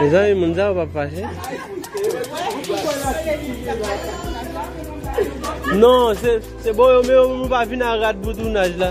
Mezanmi moun sa yo pap fache? Non, se bon yo men yo moun pa vin a rad pou tounaj la.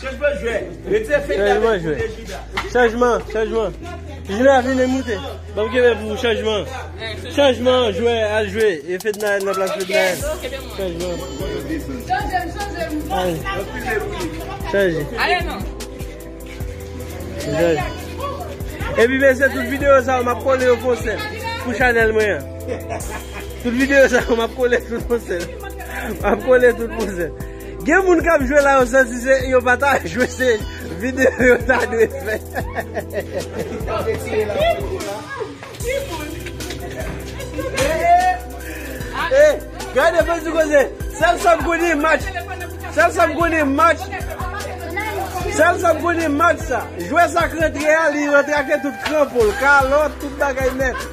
Chanjman jwè, retire fèy la men pou Nejida. Chanjman, chanjman, Juna vine moute, banm kenbe pou ou chanjman, chanjman jwè al jwe e Fednaelle nan plas Fednaelle, chanjman, Chanjem, chanjem, chanje, ale non. Epi mesye tout video sa yo map kole yo fon sèl pou chanel mwen an. Tout video sa yo map kole tout fon sèl. Map kole tout fon sèl. Gen moun kap jwe la yo santi se yo pata jwe se video yo ta dwe fè. Gade fè sou koze, sèl sa m konnen e match, sèl sa m konnen e match, sèl sa m konnen e match sa. Jwè sa k rantre a li rantre ake tout kranpon l, kalòt, tout bagay nèt.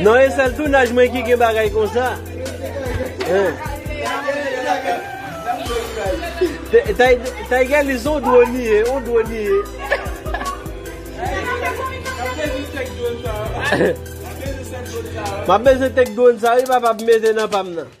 Non e sèl tounaj mwen ki gen bagay konsa Taygalis on dwon li ye on dwon li ye Mwen bezwen tek dwon sa wi papa pou m mete nan pa m nan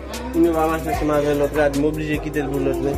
Pou nou pa mache ansanm avè lòt rad m oblije kite l pou lòt nèg.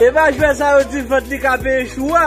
E pa jwè sa yo di vant li ka peye chou a.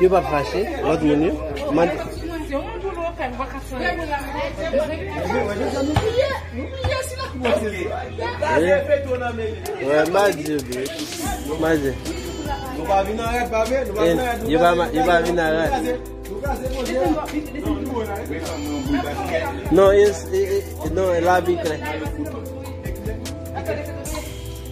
Yo pap fache lot moun yo mande.